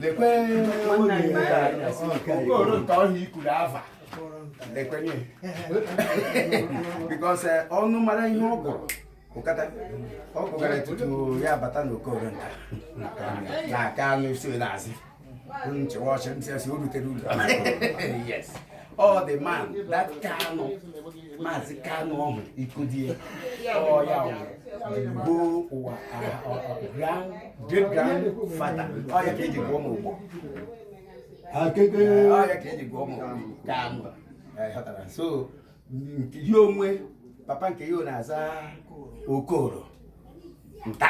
lekwe okoro nke ọhịa i kwuru ava lekwenye because ụnụ mara ihe ọ gụrụ ụkata ọ gụgara tutu ya bata n'okoro nta na aka anụ isi na-azị nchewa ọchị ntị asị o rutere ụlọ yes all the man that Kanu maazị Kanu ọhụ ikodie ọ ya bụ our great grandfather ọ ya ka e ji gụọ m ogbo ọ ya ka e ji gụọ m Kanu so ya enwee papa nke ya na-aza Okoro Nta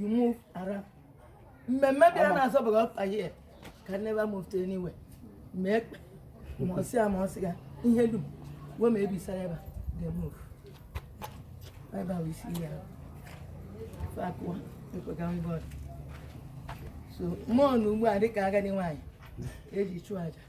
you move around mmemme bịa na-azọ bụ ọkpa he can never move to anywhere ma ekpe ma ọsị ya ma ọsị ya ihe dum wee ma ebisara ebe ga move ebe ahụ isi ya fakụwa ekpega mbọd so mụ nọ ugbu a dịka agadi nwaanyị e ji chụọ aja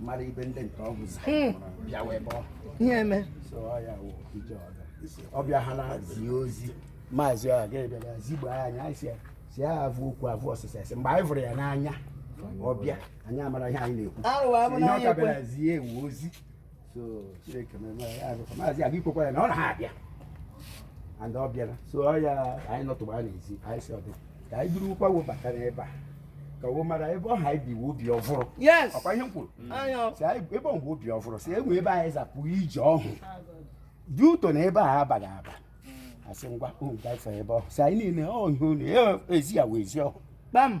mara ibe ndị nke ọ bụzi bịa wee bọ ihe e me so ọ ya wụ ije ọdọ ọ bịa ha na-azi ozi maazị ọha ga-ebịara zigbo anyị anyị sị ya sị ya avụ okwu avụ ọsịsa asị mgbe anyị vụrụ ya n'anya ọ bịa anyị amara ihe anyị na-ekwu Arụwa abụ na Ihe ọ anyị ka ekwe. bịara zie wo ozi so Chineke mere na ya abịakwa maazị aga ikwekwa ya na ọ na ha abịa and ọ bịara so ọ ya anyị nọtụgba a n'ezi anyị sị ọ dị ka anyị durukwa wo bata n'ebe a ka wo mara ebe ọ ha anyị biwe obi ọvụrụ yes ọ kwa ihe m kwuru anya si anyị ebe ọ bụ obi ọvụrụ si enwe ebe anyị zapụ ije ọhụ dị ụtọ na ebe a abaghị aba asị ngwa unu gafe ebe ọhụ si anyị niile ọ ihe unu ya ezi ya wee ezi ọhụ kpam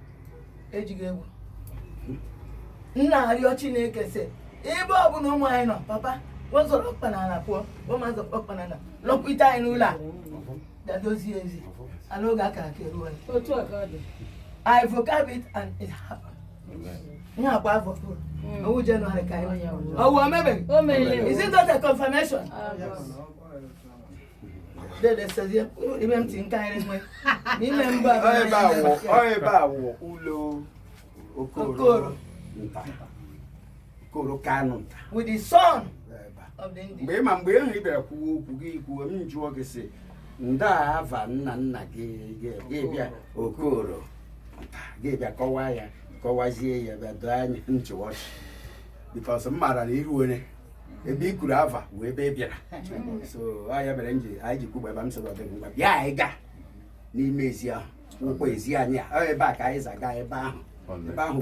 ejighị egwu na-arịọ Chineke sị ebe ọ bụla ụmụ anyị nọ papa wo zọrọ ọkpa n'ala pụọ ụmụ azọ ọkpa n'ala lọkwute anyị n'ụlọ a dadozie ezi ala oge a kara aka eruo anyị otu a ka ọ dị I vocab it and it happened. Ihe a kwa afọ ọvụrụ. Ọ wụ January ka anyị. Ọ wụ o mebeghị. o mere Is it not a confirmation? Ah, mgbe ị ma mgbe ahụ ị bịara kwuwe okwu gị kwuwe m jụọ gị sị ndị ava nna nna gị ga-ebịa Okoro ga-ebịa kọwaa ya kọwazie ya bịa doo anya nchụwa ọchị because m maara n'iru onye ebe i kwuru ava wụ ebe ị bịara so ọ ya mere m ji anyị ji kwugba ebe m sịrị ọ dịghị ngwa bịa anyị ga n'ime ezi ahụ nke wụ ezi anyị a ọ ebe a ka anyị zaga ebe ahụ ebe ahụ